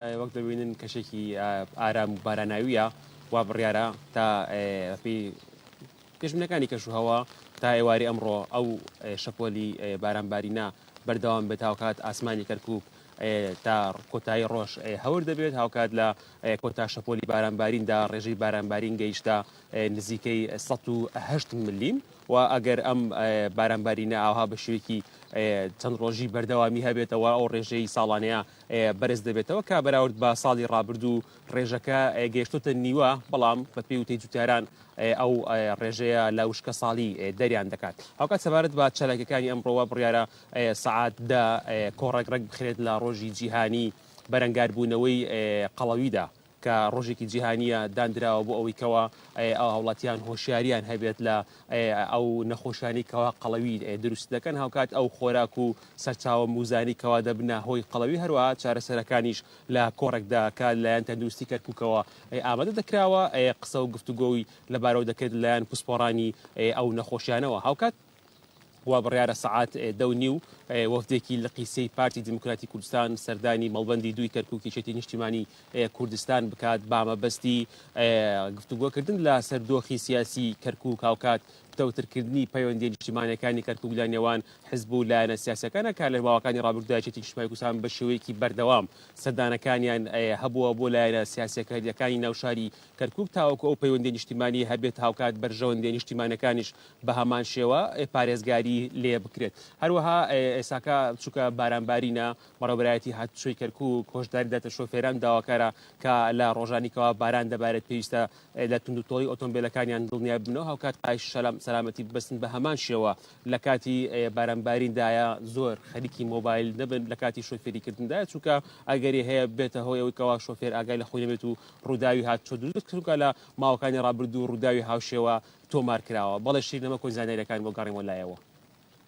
وەک دەبینن کەشێکی ئارام و باراناوییە وا بڕیارە تا بەپی پێشبنەکانی کەش و هەوا تا ئێواری ئەمڕۆ ئەو شەپۆلی بارانبارینە بەردەوام بێت هاوکات ئاسمانی کەرکک تا کۆتایی ڕۆژ هەور دەبێت هاوکات لە کۆتا شەپۆلی بارانباریندا ڕێژەی بارانبارین گەیشتە نزیکەی 1970 ملیم و ئەگەر ئەم بارانبارینە ئاها بە شوێکی چەند ڕۆژی بەردەوامی هەبێتەوە ئەو ڕێژەی ساڵانەیە بەرز دەبێتەوە کە بەراورد بە ساڵی ڕابردوو ڕێژەکە گەیشتوتە نیوە بەڵام بە پێی وتەی جوتیاران ئەو ڕێژەیە لە وشکە ساڵی دەریان دەکات هاوکات سەبارەت بە چالاکەکانی ئەمڕۆوە بڕیارە سعات دە کۆڕێک ڕێک بخرێت لە ڕۆژی جیهانی بەرەنگاربوونەوەی قەڵەویدا. کە ڕۆژێکی جیهانییە داندراوە بۆ ئەوەی کەوا هاوڵاتیان هۆشیاریان هەبێت لە ئەو نەخۆشیانی کەوا قەڵەوی دروست دەکەن هاوکات ئەو خۆراک و سەرچاوە موزانی کەوا دەبنە هۆی قەڵەوی هەروە چارەسەرەکانیش لە کۆڕێکدا کە لایەن تەندروستی کەرککەوە ئامادە دەکراوە قسە و گفتوگۆی لەبارەوە دەکرێت لایەن پسپۆڕانی ئەو نەخۆشیانەوە هاوکات وابڕیارە سەعات دە و نیو وەفدێکی لقی سێی پارتی دیموکراتی کوردستان سەردانی مەڵبەندی دووی کەرکوکی چێتی نیشتیمانی کوردستان بکات بامەبەستی گفتوگۆکردن لە سەر دۆخی سیاسی کەرکوک هاوکات پتەوترکردنی پەیوەندی نیشتیمانەکانی کەرکوک لە نێوان حزب و لایەنە سیاسەکانە کار لە ماوەکانی ڕابردودا چێتی نیشتیمانی کوردستان بە شێوەیەکی بەردەوام سەردانەکانیان هەبووە بۆ لایەنە سیاسەکەریەکانی ناوشاری کەرکوک تاوەکو ئەو پەیوەندی نیشتیمانی هەبێت هاوکات بەرژەوەندی نیشتیمانەکانیش بەهەمانشێوە پارێزگاری لێ بکرێت هەروەها ئێساکە چووکە بارانبارینە بەڕێبەرایەتی هاتوچۆی کەرکک هۆشداری دەتە شۆفێران داواکارە کە لە ڕۆژانیکەوە باران دەبارێت پێویستە لە تونند و تۆڵی ئۆتۆمبیلەکانیان دڵنیای بنەوە هاوکات پایش شەلام سەلامەتی ببەستن بە هەمان شێوە لە کاتی بارانباریندایە زۆر خەریکی مۆبایل نەبن لە کاتی شۆفێریکردندا چووکە ئەگەری هەیە بێتە هۆیەوەی کەوا شۆفێر ئاگای لە خۆی نەبێت و ڕووداوی هاتوچۆ دروست کردوکە لە ماوەکانی ڕابردوو ڕووداوی هاوشێوە تۆمار کراوە. بەڵێ شیرینە مەکۆی زانیاریەکان بۆ گەڕێمەوە لایەوە.